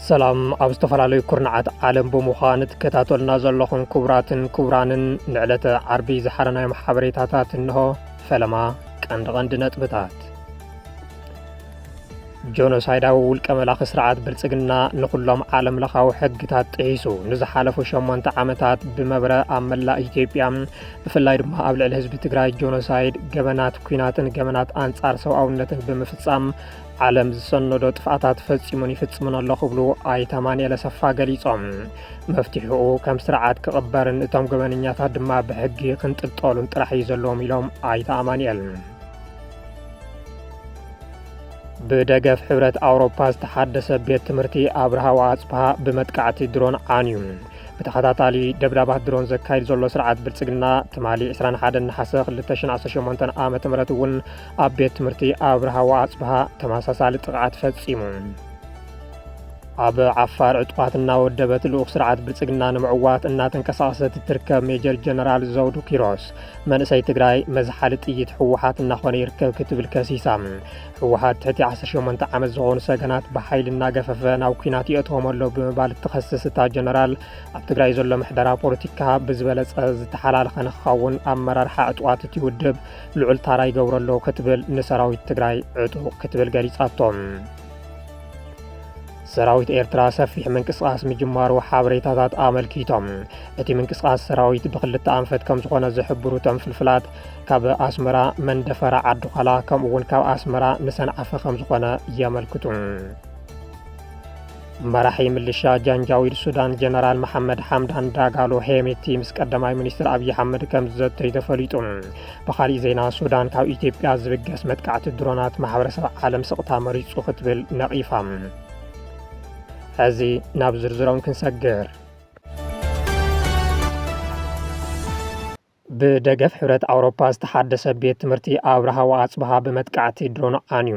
ሰላም ኣብ ዝተፈላለዩ ኩርናዓት ዓለም ብምዃን ትከታተሉና ዘለኹም ክቡራትን ክቡራንን ንዕለተ ዓርቢ ዝሓረናዮም ሓበሬታታት እንሆ ፈለማ ቀንዲ ቀንዲ ነጥብታት ጆኖሳይዳዊ ውልቀ መላኺ ስርዓት ብልጽግና ንኹሎም ዓለም ለኻዊ ሕግታት ጥሒሱ ንዝሓለፉ ሸሞንተ ዓመታት ብመብረ ኣብ መላእ ኢትዮጵያ ብፍላይ ድማ ኣብ ልዕሊ ህዝቢ ትግራይ ጆኖሳይድ፣ ገበናት ኩናትን ገበናት ኣንጻር ሰብኣውነትን ብምፍጻም ዓለም ዝሰነዶ ጥፍኣታት ፈጺሙን ይፍጽሙን ኣሎ ክብሉ ኣይተ ኣማንኤል ኣሰፋ ገሊጾም። መፍትሒኡ ከም ስርዓት ክቕበርን እቶም ገበነኛታት ድማ ብሕጊ ክንጥልጠሉን ጥራሕ እዩ ዘለዎም ኢሎም ኣይተ ኣማንኤል ብደገፍ ሕብረት ኣውሮፓ ዝተሓደሰ ቤት ትምህርቲ ኣብርሃው ኣጽብሃ ብመጥቃዕቲ ድሮን ዓንዩ ብተኸታታሊ ደብዳባት ድሮን ዘካይድ ዘሎ ስርዓት ብልጽግና ትማሊ 21 ነሓሰ 2018 ዓ ም እውን ኣብ ቤት ትምህርቲ ኣብርሃዋ ኣጽብሃ ተመሳሳሊ ጥቕዓት ፈጺሙ ኣብ ዓፋር ዕጡቓት እናወደበት ልኡኽ ስርዓት ብልጽግና ንምዕዋት እናተንቀሳቐሰት እትርከብ ሜጀር ጀነራል ዘውዱ ኪሮስ መንእሰይ ትግራይ መዝሓሊ ጥይት ህወሓት እናኾነ ይርከብ ክትብል ከሲሳ ህወሓት ትሕቲ 18 ዓመት ዝኾኑ ሰገናት ብሓይሊ እናገፈፈ ናብ ኩናት ይእትዎም ኣሎ ብምባል እትኸስስ እታ ጀነራል ኣብ ትግራይ ዘሎ ምሕደራ ፖለቲካ ብዝበለፀ ዝተሓላለኸ ንክኸውን ኣመራርሓ ዕጡቓት እቲ ውድብ ልዑል ታራ ይገብረሎ ክትብል ንሰራዊት ትግራይ ዕጡቕ ክትብል ገሊጻቶም ሰራዊት ኤርትራ ሰፊሕ ምንቅስቓስ ምጅማሩ ሓበሬታታት ኣመልኪቶም እቲ ምንቅስቓስ ሰራዊት ብክልተ ኣንፈት ከም ዝኾነ ዝሕብሩ እቶም ፍልፍላት ካብ ኣስመራ መንደፈራ ዓዲዃላ ከምኡ እውን ካብ ኣስመራ ንሰንዓፈ ከም ዝኾነ የመልክቱ መራሒ ምልሻ ጃንጃዊድ ሱዳን ጀነራል መሓመድ ሓምዳን ዳጋሎ ሄሜቲ ምስ ቀዳማይ ሚኒስትር ኣብዪ ኣሕመድ ከም ዝዘተዩ ተፈሊጡ ብኻሊእ ዜና ሱዳን ካብ ኢትዮጵያ ዝብገስ መጥቃዕቲ ድሮናት ማሕበረሰብ ዓለም ስቕታ መሪጹ ክትብል ነቒፋ። ሕዚ ናብ ዝርዝሮም ክንሰግር ብደገፍ ሕብረት ኣውሮፓ ዝተሓደሰ ቤት ትምህርቲ ኣብርሃ ወኣጽብሃ ብመጥቃዕቲ ድሮን ዓንዩ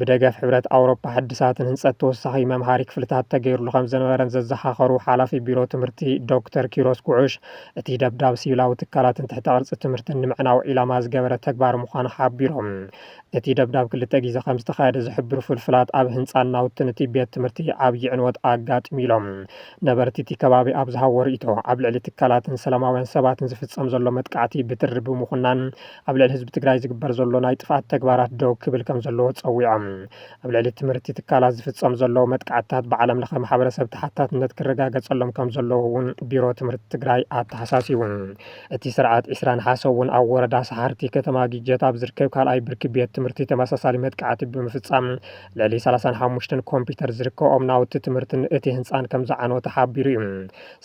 ብደገፍ ሕብረት ኣውሮፓ ሕድሳት ንህንፀት ተወሳኺ መምሃሪ ክፍልታት ተገይሩሉ ከምዝነበረን ዘዘኻኸሩ ሓላፊ ቢሮ ትምህርቲ ዶክተር ኪሮስ ጉዑሽ፣ እቲ ደብዳብ ሲቪላዊ ትካላትን ትሕተ ቅርፂ ትምህርትን ንምዕናው ዒላማ ዝገበረ ተግባር ምዃኑ ሓቢሮም። እቲ ደብዳብ ክልተ ግዜ ከምዝተኻየደ ዝሕብሩ ፍልፍላት፣ ኣብ ህንፃን ናውትን እቲ ቤት ትምህርቲ ዓብዪ ዕንወት ኣጋጢሙ ኢሎም። ነበርቲ እቲ ከባቢ ኣብ ዝሃብዎ ርኢቶ፣ ኣብ ልዕሊ ትካላትን ሰላማውያን ሰባትን ዝፍፀም ዘሎ መጥቃዕቲ ብትሪ ብምኹናን ኣብ ልዕሊ ህዝቢ ትግራይ ዝግበር ዘሎ ናይ ጥፍኣት ተግባራት ደው ክብል ከምዘለዎ ፀዊዖም። ኣብ ልዕሊ ትምህርቲ ትካላት ዝፍፀም ዘሎ መጥቃዕትታት ብዓለም ለኸ ማሕበረሰብ ተሓታትነት ክረጋገፀሎም ከምዘለዎ እውን ቢሮ ትምህርቲ ትግራይ ኣተሓሳሲቡ። እቲ ስርዓት ዕስራ ነሓሰ እውን ኣብ ወረዳ ሰሓርቲ ከተማ ግጀት ኣብ ዝርከብ ካልኣይ ብርኪ ቤት ትምህርቲ ተመሳሳሊ መጥቃዕቲ ብምፍፃም ልዕሊ ሰላሳን ሓሙሽተን ኮምፒዩተር ዝርከብኦም ናውቲ ትምህርትን እቲ ህንፃን ከምዝዓነወ ተሓቢሩ እዩ።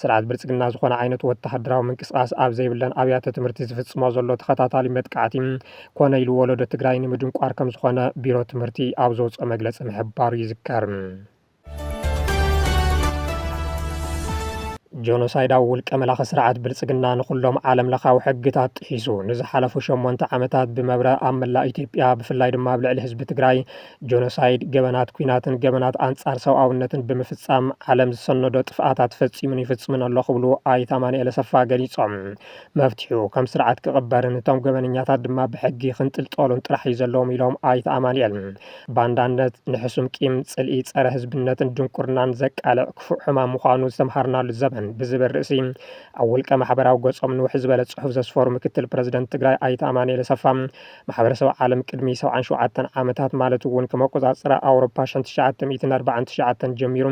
ስርዓት ብልፅግና ዝኾነ ዓይነት ወተሃደራዊ ምንቅስቓስ ኣብ ዘይብለን ኣብያተ ትምህርቲ ዝፍፅሞ ዘሎ ተኸታታሊ መጥቃዕቲ ኮነ ኢሉ ወለዶ ትግራይ ንምድንቋር ከም ዝኾነ ቢሮ ትምህርቲ ኣብ ዘውፅኦ መግለፂ ምሕባሩ ይዝከር። ጆኖሳይዳዊ ውልቀ መላኺ ስርዓት ብልፅግና ንኹሎም ዓለም ለኻዊ ሕግታት ጥሒሱ ንዝሓለፉ ሸሞንተ ዓመታት ብመብረ ኣብ መላእ ኢትዮጵያ ብፍላይ ድማ ኣብ ልዕሊ ህዝቢ ትግራይ ጆኖሳይድ፣ ገበናት ኲናትን ገበናት ኣንፃር ሰብኣውነትን ብምፍፃም ዓለም ዝሰነዶ ጥፍኣታት ፈፂሙን ይፍፅምን ኣሎ ክብሉ ኣይተ ኣማኑኤል ኣሰፋ ገሊፆም። መፍትሒኡ ከም ስርዓት ክቕበርን እቶም ገበነኛታት ድማ ብሕጊ ክንጥልጠሉን ጥራሕ እዩ ዘለዎም ኢሎም ኣይተ ኣማኑኤል። ባንዳነት ንሕሱም ቂም፣ ፅልኢ፣ ፀረ ህዝብነትን ድንቁርናን ዘቃልዕ ክፉእ ሕማም ምዃኑ ዝተምሃርናሉ ዘበን ብዝብል ርእሲ ኣብ ውልቀ ማሕበራዊ ገፆም ንውሕ ዝበለ ፅሑፍ ዘስፈሩ ምክትል ፕረዚደንት ትግራይ ኣይተ ኣማኑኤል ኣሰፋ ማሕበረሰብ ዓለም ቅድሚ ሰብዓን ሸውዓተን ዓመታት ማለት እውን ከም ኣቆፃፅራ ኣውሮፓ ሸን ትሽዓተ ሚእትን ኣርባዓን ትሽዓተን ጀሚሩ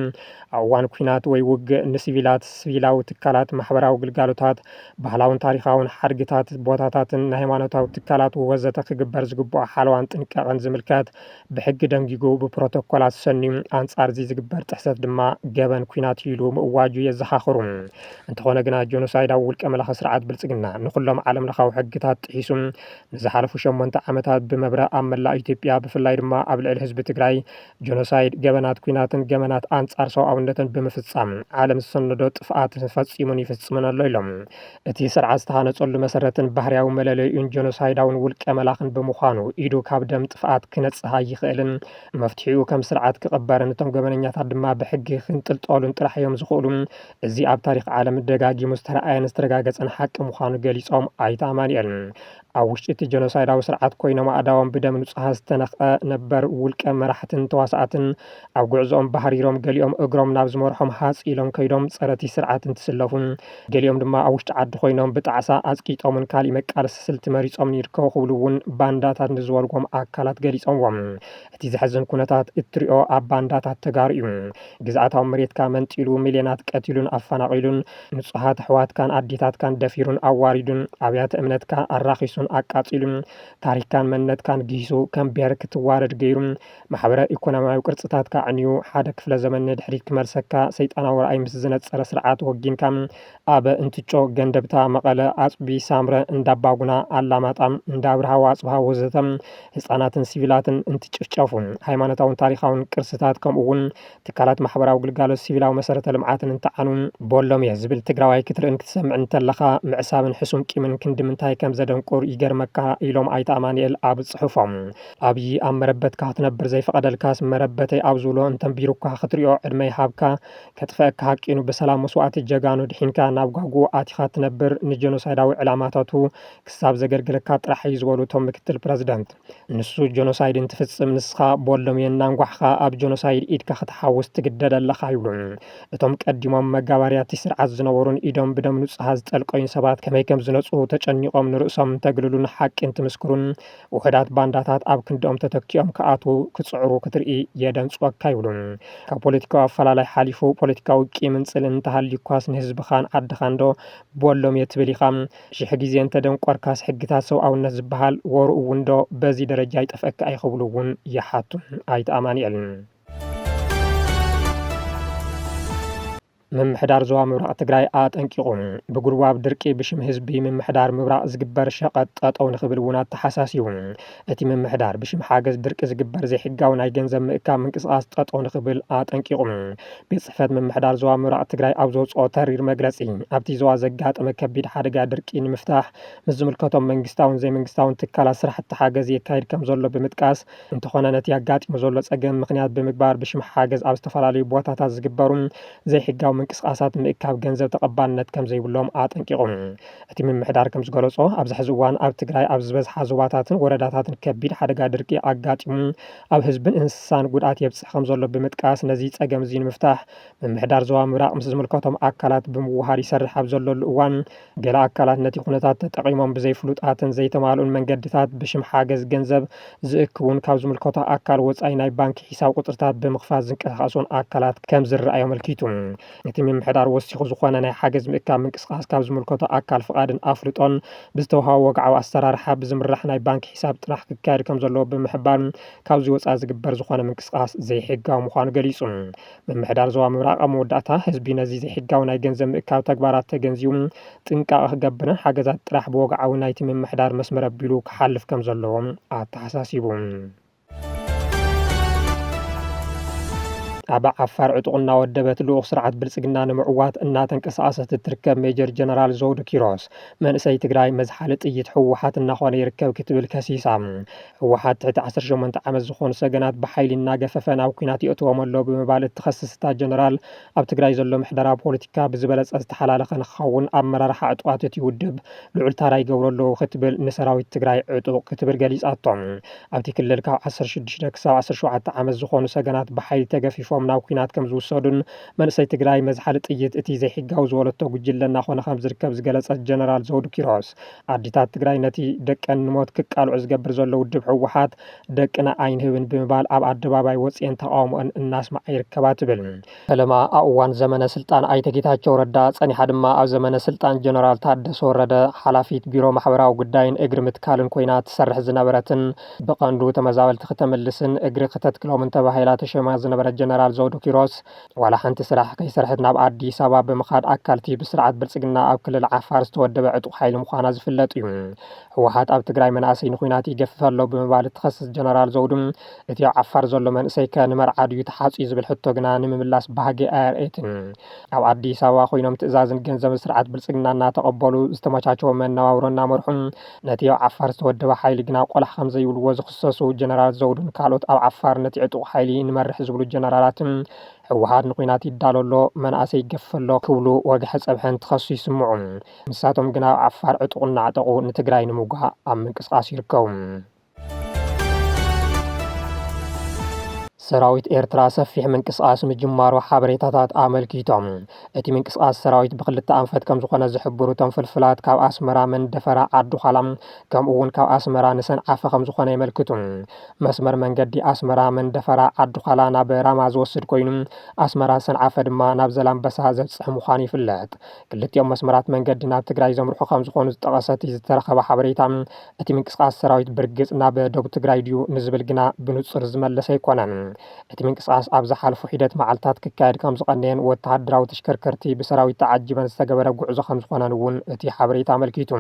ኣብ እዋን ኲናት ወይ ውግእ ንሲቪላት፣ ስቪላዊ ትካላት፣ ማሕበራዊ ግልጋሎታት፣ ባህላውን ታሪኻውን ሓድግታት፣ ቦታታትን ናይ ሃይማኖታዊ ትካላት ወዘተ ክግበር ዝግብኦ ሓለዋን ጥንቃቐን ዝምልከት ብሕጊ ደንጊጉ ብፕሮቶኮላት ሰንዩ ኣንፃር እዚ ዝግበር ጥሕሰት ድማ ገበን ኲናት እዩ ኢሉ ምእዋጁ የዘኻኽሩ። እንተኾነ ግና ጆኖሳይዳዊ ውልቀ መላኺ ስርዓት ብልፅግና ንኹሎም ዓለም ለኻዊ ሕግታት ጥሒሱ ንዝሓለፉ ሸሞንተ ዓመታት ብመብረ ኣብ መላእ ኢትዮጵያ ብፍላይ ድማ ኣብ ልዕሊ ህዝቢ ትግራይ ጀኖሳይድ፣ ገበናት ኲናትን ገበናት ኣንጻር ሰብኣውነትን ብምፍጻም ዓለም ዝሰነዶ ጥፍኣት ፈጺሙን ይፍጽምን ኣሎ ኢሎም። እቲ ስርዓት ዝተሃነጸሉ መሰረትን ባህርያዊ መለለዩን ጀኖሳይዳውን ውልቀ መላኽን ብምዃኑ ኢዱ ካብ ደም ጥፍኣት ክነጽህ ኣይኽእልን። መፍትሒኡ ከም ስርዓት ክቕበርን እቶም ገበነኛታት ድማ ብሕጊ ክንጥልጠሉን ጥራሕ እዮም ዝኽእሉ እዚ ኣብ ታሪኽ ዓለም ደጋጊሙ ዝተረኣየን ዝተረጋገፀን ሓቂ ምዃኑ ገሊፆም ኣይተ ኣማኒኤል ኣብ ውሽጢ እቲ ጀኖሳይዳዊ ስርዓት ኮይኖም ኣእዳዎም ብደም ንፁሃት ዝተነኽቐ ነበር ውልቀ መራሕትን ተዋሳእትን ኣብ ጉዕዞኦም ባህሪሮም ገሊኦም እግሮም ናብ ዝመርሖም ሃፅ ኢሎም ከይዶም ፀረቲ ስርዓት እንትስለፉን ገሊኦም ድማ ኣብ ውሽጢ ዓዲ ኮይኖም ብጣዕሳ ኣፅቂጦምን ካሊእ መቃለሲ ስልቲ መሪፆምን ይርከቡ ክብሉ እውን ባንዳታት ንዝበልዎም ኣካላት ገሊፆምዎም እቲ ዘሕዝን ኩነታት እትሪኦ ኣብ ባንዳታት ተጋሩ እዩ። ግዝኣታዊ መሬትካ መንጢሉ ሚልዮናት ቀቲሉን ኣፈናቒሉን፣ ንፁሃት ኣሕዋትካን ኣዴታትካን ደፊሩን ኣዋሪዱን፣ ኣብያተ እምነትካ ኣራኺሱን ኣቃፂሉን፣ ታሪኽካን መንነትካን ግሂሱ ከም ብሄር ክትዋረድ ገይሩ፣ ማሕበረ ኢኮኖሚያዊ ቅርፅታትካ ኣዕኒዩ፣ ሓደ ክፍለ ዘመን ንድሕሪት ክመልሰካ ሰይጣናዊ ራእይ ምስ ዝነፀረ ስርዓት ወጊንካ፣ ኣብ እንትጮ፣ ገንደብታ፣ መቐለ፣ ኣፅቢ፣ ሳምረ፣ እንዳባጉና፣ ኣላማጣ፣ እንዳኣብርሃ፣ ኣፅብሃ ወዘተ ህፃናትን ሲቪላትን እንትጭፍጨፉ፣ ሃይማኖታውን ታሪኻውን ቅርስታት ከምኡ እውን ትካላት ማሕበራዊ ግልጋሎት ሲቪላዊ መሰረተ ልምዓትን እንትዓኑ ቦሎም እየ ዝብል ትግራዋይ ክትርእን ክትሰምዕን እንተለኻ ምዕሳብን ሕሱም ቂምን ክንድምንታይ ከምዘደንቁር ይገርመካ ኢሎም ኣይተ ኣማኒኤል ኣብ ፅሑፎም። ኣብዪ ኣብ መረበትካ ክትነብር ዘይፈቐደልካስ መረበተይ ኣብ ዝብሎ እንተንቢሩካ ክትሪኦ ዕድመ ይሃብካ ከጥፈኣካ ሃቂኑ ብሰላም መስዋእቲ ጀጋኑ ድሒንካ ናብ ጓጉኡ ኣቲኻ ትነብር ንጀኖሳይዳዊ ዕላማታቱ ክሳብ ዘገልግለካ ጥራሕ እዩ ዝበሉ እቶም ምክትል ፕረዚደንት ንሱ ጀኖሳይድ እንትፍፅም ንስኻ ቦሎም እየ እናንጓሕኻ ኣብ ጀኖሳይድ ኢድካ ክትሓውስ ትግደድ ኣለኻ ይብሉ እቶም ቀዲሞም መጋባርያ እቲ ስርዓት ዝነበሩን ኢዶም ብደም ንፁሃት ዝጠልቀዩን ሰባት ከመይ ከምዝነፅሁ ተጨኒቆም ንርእሶም እንተግልሉን ሓቂ እንትምስክሩን ውሑዳት ባንዳታት ኣብ ክንድኦም ተተኪኦም ክኣትዉ ክጽዕሩ ክትርኢ የደንጽወካ ይብሉ። ካብ ፖለቲካዊ ኣፈላላይ ሓሊፉ ፖለቲካዊ ቂምን ጽልእን እንተሃልዩካስ ንህዝብኻን ዓድኻንዶ ቦሎምየ ትብል ኢኻ? ሽሕ ግዜ እንተደንቆርካስ ሕግታት ሰብኣውነት ዝበሃል ወርኡ'ውንዶ በዚ ደረጃ ይጠፍኣካ እዩ ክብሉ'ውን ይሓቱ ኣይተ ኣማኒኤል። ምምሕዳር ዞባ ምብራቕ ትግራይ ኣጠንቂቑ። ብጉልባብ ድርቂ ብሽም ህዝቢ ምምሕዳር ምብራቕ ዝግበር ሸቐጥ ጠጠው ንኽብል እውን ኣተሓሳሲቡ። እቲ ምምሕዳር ብሽም ሓገዝ ድርቂ ዝግበር ዘይሕጋዊ ናይ ገንዘብ ምእካብ ምንቅስቓስ ጠጠው ንኽብል ኣጠንቂቑ። ቤት ጽሕፈት ምምሕዳር ዞባ ምብራቕ ትግራይ ኣብ ዘውፅኦ ተሪር መግለፂ ኣብቲ ዞባ ዘጋጠመ ከቢድ ሓደጋ ድርቂ ንምፍታሕ ምስ ዝምልከቶም መንግስታውን ዘይመንግስታውን ትካላት ስራሕቲ ሓገዝ የካይድ ከምዘሎ ብምጥቃስ እንተኾነ ነቲ ኣጋጢሙ ዘሎ ፀገም ምኽንያት ብምግባር ብሽም ሓገዝ ኣብ ዝተፈላለዩ ቦታታት ዝግበሩ ዘይሕጋዊ ምንቅስቓሳት ምእካብ ገንዘብ ተቐባልነት ከምዘይብሎም ኣጠንቂቑ። እቲ ምምሕዳር ከምዝገለፆ ኣብዚ ሕዚ እዋን ኣብ ትግራይ ኣብ ዝበዝሓ ዞባታትን ወረዳታትን ከቢድ ሓደጋ ድርቂ ኣጋጢሙ ኣብ ህዝብን እንስሳን ጉድኣት የብፅሕ ከምዘሎ ብምጥቃስ ነዚ ፀገም እዚ ንምፍታሕ ምምሕዳር ዞባ ምብራቕ ምስ ዝምልከቶም ኣካላት ብምውሃድ ይሰርሕ ኣብ ዘለሉ እዋን ገለ ኣካላት ነቲ ኩነታት ተጠቒሞም ብዘይፍሉጣትን ዘይተማልኡን መንገድታት ብሽም ሓገዝ ገንዘብ ዝእክቡን ካብ ዝምልከቶ ኣካል ወጻኢ ናይ ባንኪ ሒሳብ ቁጽርታት ብምኽፋት ዝንቀሳቐሱን ኣካላት ከም ዝርኣዩ ኣመልኪቱ። እቲ ምምሕዳር ወሲኹ ዝኾነ ናይ ሓገዝ ምእካብ ምንቅስቓስ ካብ ዝምልከቶ ኣካል ፍቓድን ኣፍልጦን ብዝተውሃቦ ወግዓዊ ኣሰራርሓ ብዝምራሕ ናይ ባንኪ ሒሳብ ጥራሕ ክካየድ ከም ዘለዎ ብምሕባር ካብዚ ወጻኢ ዝግበር ዝኾነ ምንቅስቓስ ዘይሕጋዊ ምዃኑ ገሊጹ። ምምሕዳር ዞባ ምብራቕ ኣብ መወዳእታ፣ ህዝቢ ነዚ ዘይሕጋዊ ናይ ገንዘብ ምእካብ ተግባራት ተገንዚቡ ጥንቃቐ ክገብርን ሓገዛት ጥራሕ ብወግዓዊ ናይቲ ምምሕዳር መስመር ኣቢሉ ክሓልፍ ከምዘለዎ ኣተሓሳሲቡ። ኣብ ዓፋር ዕጡቕ እናወደበት ልኡኽ ስርዓት ብልፅግና ንምዕዋት እናተንቀሳቐሰት እትርከብ ሜጀር ጀነራል ዘውዱ ኪሮስ መንእሰይ ትግራይ መዝሓሊ ጥይት ህወሓት እናኾነ ይርከብ ክትብል ከሲሳ። ህወሓት ትሕቲ ዓሰርተ ሸሞንተ ዓመት ዝኾኑ ሰገናት ብሓይሊ እናገፈፈ ናብ ኲናት የእትዎም ኣሎ ብምባል እትኸስስ እታ ጀነራል፣ ኣብ ትግራይ ዘሎ ምሕደራ ፖለቲካ ብዝበለፀ ዝተሓላለኸ ንክኸውን ኣመራርሓ ዕጡቓት እቲ ውድብ ልዑል ታራ ይገብሩ ኣለዉ ክትብል ንሰራዊት ትግራይ ዕጡቕ ክትብል ገሊፃቶ። ኣብቲ ክልል ካብ ዓሰርተ ሽዱሽተ ክሳብ ዓሰርተ ሸውዓተ ዓመት ዝኾኑ ሰገናት ብሓይሊ ተገፊፎም ናብ ኲናት ከምዝውሰዱን መንእሰይ ትግራይ መዝሓሊ ጥይት እቲ ዘይሕጋዊ ዝበለቶ ጉጅለ እናኾነ ከምዝርከብ ዝገለፀት ጀነራል ዘውዱ ኪሮስ ኣዴታት ትግራይ ነቲ ደቀን ንሞት ክቃልዑ ዝገብር ዘሎ ውድብ ህወሓት ደቅና ኣይንህብን ብምባል ኣብ ኣደባባይ ወፅኤን ተቃውሞኣን እናስማዓ ይርከባ ትብል። ፈለማ ኣብ እዋን ዘመነ ስልጣን ኣይተ ጌታቸው ረዳ ፀኒሓ ድማ ኣብ ዘመነ ስልጣን ጀነራል ታደሰ ወረደ ሓላፊት ቢሮ ማሕበራዊ ጉዳይን እግሪ ምትካልን ኮይና ትሰርሕ ዝነበረትን ብቀንዱ ተመዛበልቲ ክተምልስን እግሪ ክተትክሎምን ተባሂላ ተሾይማ ዝነበረት ጀነራል ዘውዱ ኪሮስ ዋላ ሓንቲ ስራሕ ከይሰርሐት ናብ ኣዲስ ኣበባ ብምኻድ ኣካልቲ ብስርዓት ብልፅግና ኣብ ክልል ዓፋር ዝተወደበ ዕጡቕ ሓይሊ ምዃና ዝፍለጥ እዩ። ህወሓት ኣብ ትግራይ መናእሰይ ንኹናት ይገፍፍ ኣሎ ብምባል እትኸስስ ጀነራል ዘውዱ እቲ ኣብ ዓፋር ዘሎ መንእሰይ ከ ንመርዓ ድዩ ተሓፅዩ ዝብል ሕቶ ግና ንምምላስ ባህጊ ኣየርእየትን። ኣብ ኣዲስ ኣበባ ኮይኖም ትእዛዝን ገንዘብን ስርዓት ብልፅግና እናተቐበሉ ዝተመቻቸወ መነባብሮ እናመርሑ ነቲ ኣብ ዓፋር ዝተወደበ ሓይሊ ግና ቆላሕ ከምዘይብልዎ ዝኽሰሱ ጀነራል ዘውዱን ካልኦት ኣብ ዓፋር ነቲ ዕጡቕ ሓይሊ ንመርሕ ዝብሉ ጀነራላትን ህወሓት ንኩናት ይዳሎ ኣሎ፣ መንእሰይ ይገፍፍ ኣሎ ክብሉ ወግሐ ፀብሐ እንትኸሱ ይስምዑ። ንሳቶም ግና ኣብ ዓፋር ዕጡቕ እናዕጠቑ ንትግራይ ንምውጋእ ኣብ ምንቅስቓስ ይርከቡ። ሰራዊት ኤርትራ ሰፊሕ ምንቅስቓስ ምጅማሩ ሓበሬታታት ኣመልኪቶም። እቲ ምንቅስቓስ ሰራዊት ብክልተ ኣንፈት ከም ዝኾነ ዝሕብሩ እቶም ፍልፍላት ካብ ኣስመራ መንደፈራ ዓዲዃላ ከምኡ እውን ካብ ኣስመራ ንሰንዓፈ ከም ዝኾነ የመልክቱ። መስመር መንገዲ ኣስመራ መንደፈራ ዓዲዃላ ናብ ራማ ዝወስድ ኮይኑ ኣስመራ ሰንዓፈ ድማ ናብ ዘላምበሳ ዘብፅሕ ምዃኑ ይፍለጥ። ክልቲኦም መስመራት መንገዲ ናብ ትግራይ ዘምርሑ ከም ዝኾኑ ዝጠቐሰ እቲ ዝተረኸበ ሓበሬታ እቲ ምንቅስቓስ ሰራዊት ብርግፅ ናብ ደቡብ ትግራይ ድዩ ንዝብል ግና ብንፁር ዝመለሰ ኣይኮነን። እቲ ምንቅስቓስ ኣብ ዝሓለፉ ሒደት መዓልትታት ክካየድ ከምዝቐነየን ወተሃደራዊ ተሽከርከርቲ ብሰራዊት ተዓጂበን ዝተገበረ ጉዕዞ ከምዝኾነን እውን እቲ ሓበሬታ ኣመልኪቱ።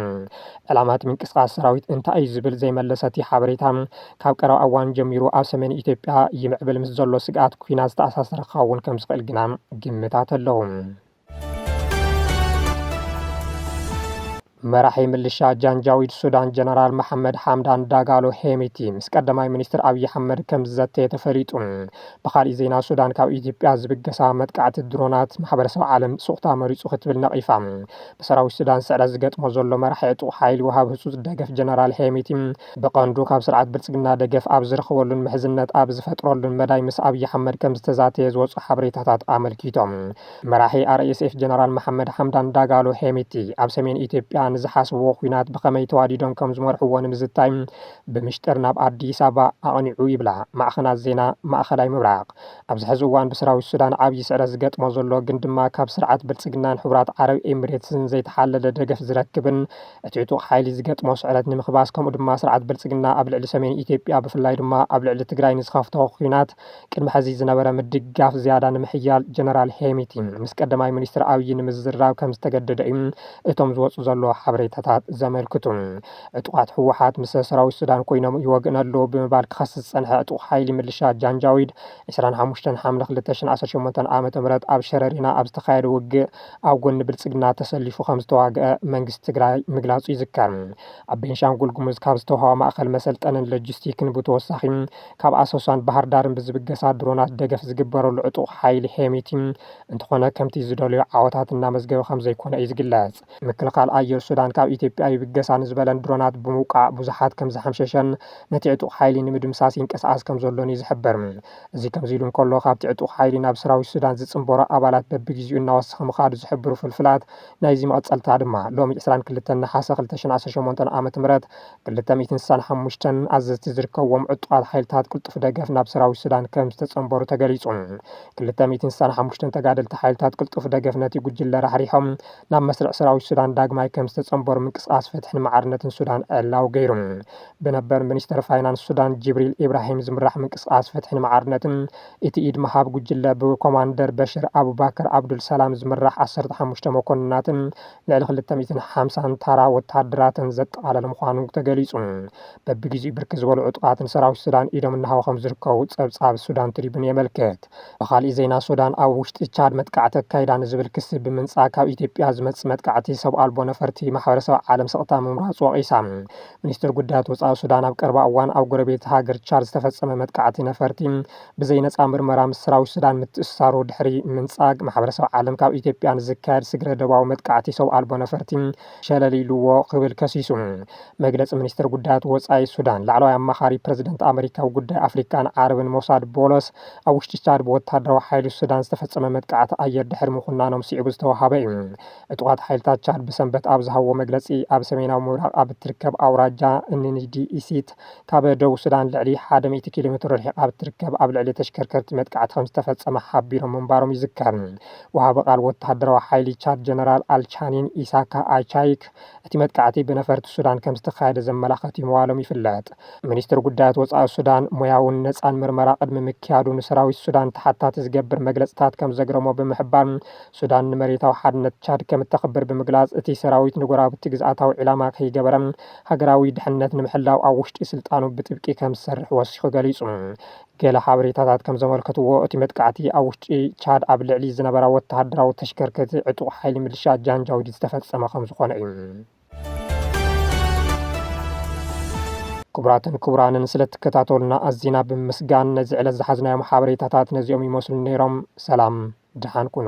ዕላማ እቲ ምንቅስቓስ ሰራዊት እንታይ እዩ ዝብል ዘይመለሰ እቲ ሓበሬታ፣ ካብ ቀረባ እዋን ጀሚሩ ኣብ ሰሜን ኢትዮጵያ ይምዕብል ምስ ዘሎ ስግኣት ኲናት ዝተኣሳሰረ ክኸውን ከምዝኽእል ግና ግምታት ኣለዉ። መራሒ ምልሻ ጃንጃዊድ ሱዳን ጀነራል መሓመድ ሓምዳን ዳጋሎ ሄሚቲ ምስ ቀዳማይ ሚኒስትር ኣብዪ ኣሕመድ ከም ዝዘተየ ተፈሊጡ ብካሊእ ዜና ሱዳን ካብ ኢትዮጵያ ዝብገሳ መጥቃዕቲ ድሮናት ማሕበረሰብ ዓለም ሱቕታ መሪፁ ክትብል ነቒፋ ብሰራዊት ሱዳን ስዕረት ዝገጥሞ ዘሎ መራሒ ዕጡቕ ሓይሊ ውሃብ ህፁፅ ደገፍ ጀነራል ሄሚቲ ብቐንዱ ካብ ስርዓት ብልፅግና ደገፍ ኣብ ዝረኽበሉን ምሕዝነት ኣብ ዝፈጥረሉን መዳይ ምስ ኣብዪ ኣሕመድ ከም ዝተዛተየ ዝወፁ ሓበሬታታት ኣመልኪቶም መራሒ RSF ጀነራል መሓመድ ሓምዳን ዳጋሎ ሄሚቲ ኣብ ሰሜን ኢትዮጵያ ንዝሓስብዎ ኲናት ብኸመይ ተዋዲዶም ከም ዝመርሕዎ ንምዝታይ ብምሽጥር ናብ ኣዲስ ኣበባ ኣቕኒዑ ይብላ ማዕኸናት ዜና ማእኸላይ ምብራቕ። ኣብዚ ሕዚ እዋን ብሰራዊት ሱዳን ዓብዪ ስዕረት ዝገጥሞ ዘሎ ግን ድማ ካብ ስርዓት ብልፅግናን ሕቡራት ዓረብ ኤሚሬትስን ዘይተሓለለ ደገፍ ዝረክብን እቲ ዕጡቕ ሓይሊ ዝገጥሞ ስዕረት ንምክባስ ከምኡ ድማ ስርዓት ብልፅግና ኣብ ልዕሊ ሰሜን ኢትዮጵያ ብፍላይ ድማ ኣብ ልዕሊ ትግራይ ንዝኸፍቶ ኲናት ቅድሚ ሕዚ ዝነበረ ምድግጋፍ ዝያዳ ንምሕያል ጀነራል ሄሚቲ ምስ ቀዳማይ ሚኒስትር ኣብዪ ንምዝራብ ከምዝተገደደ እዩ እቶም ዝወፁ ዘለዉ ሓበሬታታት ዘመልክቱ። ዕጡቓት ህወሓት ምስ ሰራዊት ሱዳን ኮይኖም ይወግእና ኣለዉ ብምባል ክኸስስ ዝፀንሐ ዕጡቕ ሓይሊ ምልሻ ጃንጃዊድ ዕስራን ሓሙሽተን ሓምለ ክልተ ሽሕን ዓሰርተ ሸሞንተን ዓ ም ኣብ ሸረሪና ኣብ ዝተኻየደ ውግእ ኣብ ጎኒ ብልፅግና ተሰሊፉ ከምዝተዋግኣ መንግስቲ ትግራይ ምግላፁ ይዝከር። ኣብ ቤንሻንጉል ጉሙዝ ካብ ዝተውሃባ ማእኸል መሰልጠንን ለጂስቲክን ብተወሳኺ ካብ ኣሶሳን ባህርዳርን ብዝብገሳ ድሮናት ደገፍ ዝግበረሉ ዕጡቕ ሓይሊ ሄሚቲ፣ እንተኾነ ከምቲ ዝደለዮ ዓወታት እናመዝገበ ከምዘይኮነ እዩ ዝግለጽ። ምክልኻል ኣየር ሱዳን ካብ ኢትዮጵያ ይብገሳ ንዝበለን ድሮናት ብምውቃዕ ብዙሓት ከምዝሓምሸሸን ነቲ ዕጡቕ ሓይሊ ንምድምሳስ ይንቀሳቐስ ከምዘሎን'ዩ ዝሕበር። እዚ ከምዚ ኢሉ እንከሎ፣ ካብቲ ዕጡቕ ሓይሊ ናብ ሰራዊት ሱዳን ዝጽንበሩ ኣባላት በብግዜኡ እናወሰኸ ምኻዱ ዝሕብሩ ፍልፍላት ናይዚ መቐጸልታ ድማ፣ ሎሚ ዕስራን ክልተን ነሓሰ ክልተ ሽሕን ዓሰርተ ሸሞንተ ን ዓመተ ምህረት ክልተ ሚእትን ስሳን ሓሙሽተን ኣዘዝቲ ዝርከብዎም ዕጡቓት ሓይልታት ቅልጡፍ ደገፍ ናብ ሰራዊት ሱዳን ከም ዝተጸንበሩ ተገሊጹ። ክልተ ሚእትን ስሳን ሓሙሽተን ተጋደልቲ ሓይልታት ቅልጡፍ ደገፍ ነቲ ጉጅለ ራሕሪሖም ናብ መስርዕ ሰራዊት ሱዳን ዳግማይ ከም ዝተጸንበሩ ምንቅስቓስ ፍትሕን ማዕርነትን ሱዳን ዕላዊ ገይሩ። ብነበር ሚኒስተር ፋይናንስ ሱዳን ጅብሪል ኢብራሂም ዝምራሕ ምንቅስቓስ ፍትሕን ማዕርነትን እቲ ኢድ ምሃብ ጉጅለ ብኮማንደር በሽር ኣቡባከር ኣብዱል ሰላም ዝምራሕ ዓሰርተ ሓሙሽተ መኮንናትን ልዕሊ ክልተ ሚእትን ሓምሳን ታራ ወተሃደራትን ዘጠቓለለ ምዃኑ ተገሊጹ። በብግዜኡ ብርክት ዝበሉ ዕጡቓት ንሰራዊት ሱዳን ኢዶም እናሃቡ ከምዝርከቡ ጸብጻብ ሱዳን ትሪቡን የመልክት። ብኻሊእ ዜና ሱዳን ኣብ ውሽጢ ቻድ መጥቃዕቲ ኣካይዳ ንዝብል ክሲ ብምንጻግ ካብ ኢትዮጵያ ዝመጽእ መጥቃዕቲ ሰብ ኣልቦ ነፈርቲ ማሕበረሰብ ዓለም ስቕታ ምምራጹ ወቒሳ። ሚኒስትር ጉዳያት ወጻኢ ሱዳን ኣብ ቀረባ እዋን ኣብ ጎረቤት ሃገር ቻድ ዝተፈጸመ መጥቃዕቲ ነፈርቲ ብዘይ ነጻ ምርመራ ምስ ሰራዊት ሱዳን ምትእስሳሩ ድሕሪ ምንጻግ፣ ማሕበረሰብ ዓለም ካብ ኢትዮጵያ ንዝካየድ ስግረ-ዶባዊ መጥቃዕቲ ሰው ኣልቦ ነፈርቲ ሸለል ኢሉዎ ክብል ከሲሱ። መግለጺ ሚኒስተር ጉዳያት ወጻኢ ሱዳን፣ ላዕለዋይ ኣማኻሪ ፕረዚደንት ኣመሪካ ኣብ ጉዳይ ኣፍሪቃን ዓረብን ሞሳድ ቦሎስ፣ ኣብ ውሽጢ ቻድ ብወተሃደራዊ ሓይሊ ሱዳን ዝተፈጸመ መጥቃዕቲ ኣየር ድሕሪ ምኹናኖም ስዒቡ ዝተወሃበ እዩ። ዕጡቓት ሓይልታት ቻድ ብሰንበት ኣብ ዝሃብዎ መግለጺ፣ ኣብ ሰሜናዊ ምብራቕ ኣብ እትርከብ ኣውራጃ እኒንዲኢሲት፣ ካብ ደቡብ ሱዳን ልዕሊ ሓደ ሚእቲ ኪሎ ሜትሮ ርሒቓ ኣብ እትርከብ ኣብ ልዕሊ ተሽከርከርቲ መጥቃዕቲ ከምዝተፈጸመ ሓቢሮም ምንባሮም ይዝከር። ወሃቢ ቃል ወተሃደራዊ ሓይሊ ቻድ ጀነራል ኣልቻኒን ኢሳካ ኣቻይክ እቲ መጥቃዕቲ ብነፈርቲ ሱዳን ከምዝተኻየደ ዘመላኸት'ዩ ምባሎም ይፍለጥ። ሚኒስትሪ ጉዳያት ወጻኢ ሱዳን ሞያውን ነጻን ምርመራ ቅድሚ ምክያዱ ንሰራዊት ሱዳን ተሓታቲ ዝገብር መግለጽታት ከምዘግረሞ ብምሕባር ሱዳን ንመሬታዊ ሓድነት ቻድ ከምእተኽብር ብምግላጽ እቲ ሰራዊት ንጎራብቲ ግዝኣታዊ ዒላማ ከይገበረ ሃገራዊ ድሕነት ንምሕላው ኣብ ውሽጢ ስልጣኑ ብጥብቂ ከም ዝሰርሕ ወሲኹ ገሊጹ። ገለ ሓበሬታታት ከም ዘመልከትዎ፣ እቲ መጥቃዕቲ ኣብ ውሽጢ ቻድ ኣብ ልዕሊ ዝነበራ ወተሃደራዊ ተሽከርከቲ ዕጡቕ ሓይሊ ምልሻ ጃንጃዊድ ዝተፈጸመ ከም ዝኾነ እዩ። ክቡራትን ክቡራንን ስለ እትከታተሉና ኣዚና ብምምስጋን ነዚ ዕለት ዝሓዝናዮም ሓበሬታታት ነዚኦም ይመስሉ ነይሮም። ሰላም ድሓን ኩኑ።